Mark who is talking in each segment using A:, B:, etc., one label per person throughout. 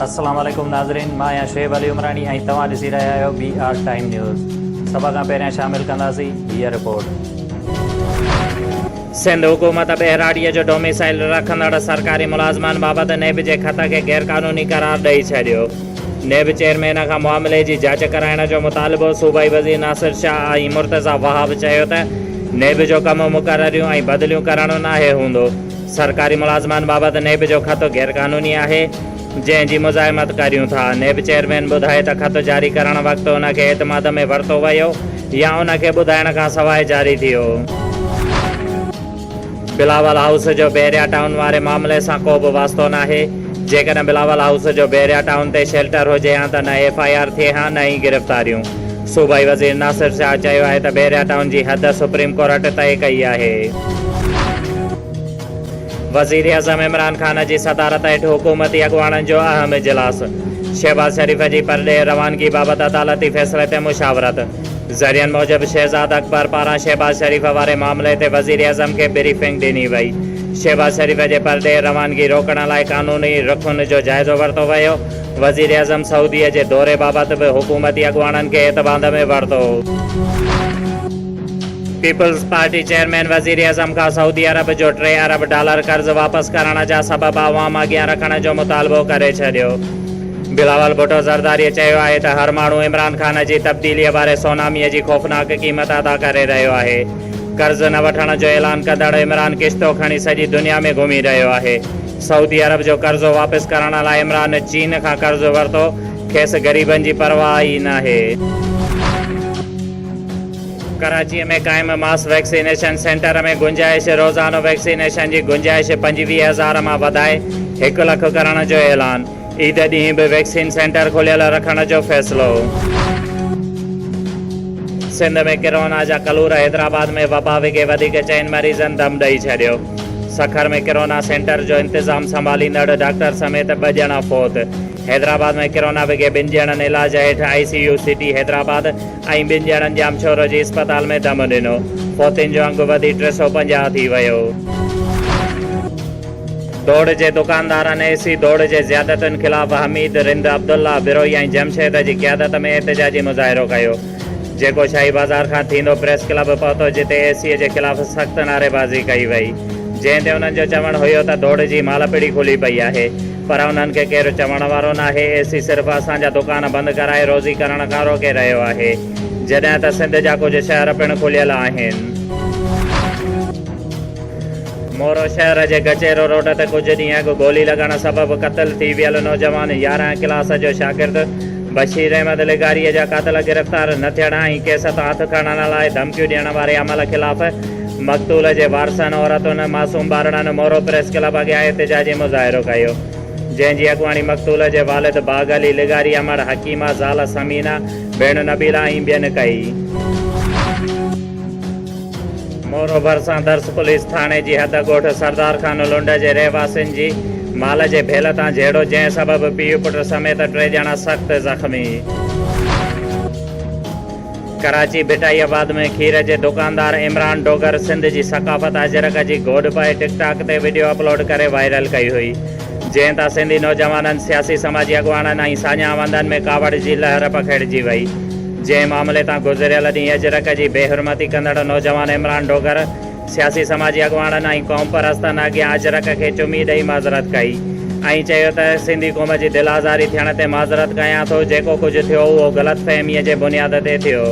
A: السلام عليڪم ناظرين مان آهيان شعيب علي عمراڻي ۽ توهان ڏسي رهيا آهيو بي آر ٽائيم نيوز سڀ کان پهريان شامل ڪنداسين هيء رپورٽ. سنڌ حڪومت ٻهراڙيء جو ڊوميسائيل رکندڙ سرڪاري ملازمن بابت نيب جي خط کي غيرقانوني قرار ڏئي ڇڏيو. نيب چيئرمين کان معاملي جي جاچ ڪرائڻ جو مطالبو، صوبائي وزير ناصر شاهه ۽ مرتضيٰ وهاب چيو ته نيب جو ڪم مقرريون ۽ بدليون ڪرڻو ناهي هوندو، سرڪاري ملازمن بابت نيب جو خط غيرقانوني آهي، جنهن جي مزاحمت ڪريون ٿا، نيب چيئرمين ٻڌائي ته خط جاري ڪرڻ وقت ان کي اعتماد ۾ ورتو ويو يا ان کي ٻڌائڻ کان سواء جاري ٿيو. بلاول هائوس جو بحريا ٽائون واري معاملي سان ڪو به واسطو ناهي، جيڪڏهن بلاول هائوس جو بحريا ٽائون تي شيلٽر هجي ها ته نه ايف آء آر ٿئي ها نه ئي گرفتاريون. صوبائي وزير ناصر شاهه چيو آهي ته بحريا ٽائون جي حد سپريم ڪورٽ طئي ڪئي آهي. وزيراعظم عمران خان جي صدارت هيٺ حڪومتي اڳواڻن جو اهم اجلاس، شهباز شريف جي پرڏيهه روانگي بابت عدالتي فيصلي تي مشاورت. ذريعن موجب شهزاد اڪبر پاران شهباز شريف واري معاملي تي وزيراعظم کي بريفنگ ڏني وئي، شهباز شريف جي پرڏيهه روانگي روڪڻ لاء قانوني رخن جو جائزو ورتو ويو، وزيراعظم سعودي جي دوري بابت به حڪومتي اڳواڻن کي اعتماد ۾ ورتو. پيپلز پارٽي چيئرمين وزيراعظم کان سعودي عرب جو ٽي ارب ڊالر قرض واپس ڪرڻ جا سبب عوام اڳيان رکڻ جو مطالبو ڪري ڇڏيو. بلاول ڀٽو زرداري چيو آهي ته هر ماڻهو عمران خان جي تبديليء واري سونامي جي خوفناڪ قيمت ادا ڪري رهيو آهي، قرض نه وٺڻ جو اعلان ڪندڙ عمران ڪشتو کڻي سڄي دنيا ۾ گهمي رهيو آهي، سعودي عرب جو قرضو واپس ڪرڻ لاء عمران چين کان قرض ورتو، کيس غريبن جي پرواهه ئي ناهي. ڪراچي ۾ قائم ماس ويڪسينيشن سينٽر ۾ گنجائش، روزانو ويڪسينيشن جي گنجائش پنجويهه هزار مان وڌائي هڪ لک ڪرڻ جو اعلان. عيد ڏينهن به ويڪسين سينٽر کليل رکڻ جو فيصلو. سنڌ ۾ ڪرونا جا ڪلور، حيدرآباد ۾ وبا وگهي وڌيڪ چئن مريضن دم ڏئي ڇڏيو، سکر ۾ ڪرونا سينٽر جو انتظام سنڀاليندڙ ڊاڪٽر سميت ٻه ڄڻا فوت، حيدرآباد ۾ ڪرونا وگهي ٻن ڄڻن علاج هيٺ I C U city Hyderabad ۽ ٻن ڄڻن ڄامشورو جي اسپتال ۾ دم ڏنو، فوتين جو انگ وڌي ٽي سؤ پنجاهه ٿي ويو. ڊوڙ جي دڪاندارن اي سي ڊوڙ جي زيادتين خلاف حميد، رند، عبدالله، بروهي ۽ جمشيد جي قيادت ۾ احتجاجي مظاهرو ڪيو جيڪو شاهي بازار کان ٿيندو پريس ڪلب پهتو جتي اي سي جي خلاف سخت نعريبازي ڪئي وئي جنهن تي انهن جو چوڻ هيو ته ڊوڙ جي مالپڙي کلي پئي آهي پر انهن کي ڪير چوڻ وارو ناهي اي سي صرف اسان جا دڪان بند ڪرائي روزي ڪرڻ کان روڪي رهيو آهي جڏهن ته سنڌ جا ڪجهه شهر پڻ کليل آهن. مورو شهر جي گچيرو روڊ تي ڪجهه ڏينهن اڳ گولي لڳڻ سبب قتل ٿي ويل نوجوان يارهن ڪلاس جو شاگرد بشير احمد لغاري جا قاتل گرفتار نه ٿيڻ ۽ ڪيس تان هٿ کڻڻ لاء ڌمڪيون ڏيڻ واري عمل خلاف مقتول جي وارثن عورتن معصوم ٻارڙن مورو پريس ڪلب اڳيان احتجاجي مظاهرو ڪيو جنهن جي اڳواڻي مقتول جي والد باغ علي لغاري امڙ حڪيمه زال ثمينه ڀيڻ نبيلا ۽ ٻين ڪئي. مورو ڀرسان درس پوليس ٿاڻي جي حد ڳوٺ سردار خان لنڊ جي رهواسين جي مال جي ڀيل تان جهيڙو جنهن سبب پيء پٽ سميت ٽي ڄڻا سخت زخمي. ڪراچي ڀٽائي آباد ۾ کير جي دڪاندار عمران ڊوگر سنڌ جي ثقافت اجرڪ جي گوڏ پائي ٽڪ ٽاڪ تي وڊيو اپلوڊ ڪري وائرل ڪئي هئي جنهن تان سنڌي نوجوانن، سياسي سماجي اڳواڻن ۽ ساڃاهه وندن ۾ ڪاوڙ جي لهر پکيڙجي وئي. جنهن معاملي تان گذريل ڏينهن اجرڪ جي بي حرمتي ڪندڙ نوجوان عمران ڊوگر سياسي سماجي اڳواڻن ۽ قومپرستن اڳيان اجرڪ کي چمي ڏئي معذرت ڪئي ۽ چيو ته سنڌي قوم جي دل آزاري ٿيڻ تي معذرت ڪيان ٿو جيڪو ڪجهه ٿيو اهو غلط فهمي جي بنياد تي ٿيو.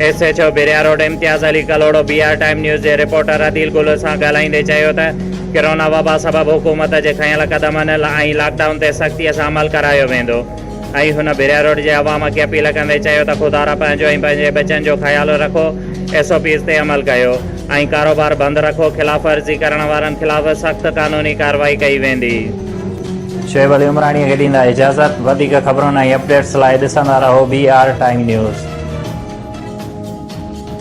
A: S H O Bahria road Imtiaz Ali Kalhoro B R time news جي رپورٽر عديل گل سان ڳالهائيندي چيو ته ڪرونا وبا سبب حڪومت جي کنيل قدمن ۽ لاڪ ڊائون تي سختي سان عمل ڪرايو ويندو ۽ هن بحريا روڊ جي عوام کي اپيل ڪندي چيو ته خدارا پنهنجو ۽ پنهنجي ٻچن جو خيال رکو ايس او پيز تي عمل ڪيو ۽ ڪاروبار بند رکو خلاف ورزي ڪرڻ وارن خلاف سخت قانوني ڪارروائي ڪئي ويندي. شعيب علي عمراڻيء کي ڏيندا اجازت وڌيڪ خبرن ۽ اپڊيٽس لاء ڏسندا رهو بي آر ٽائيم نيوز.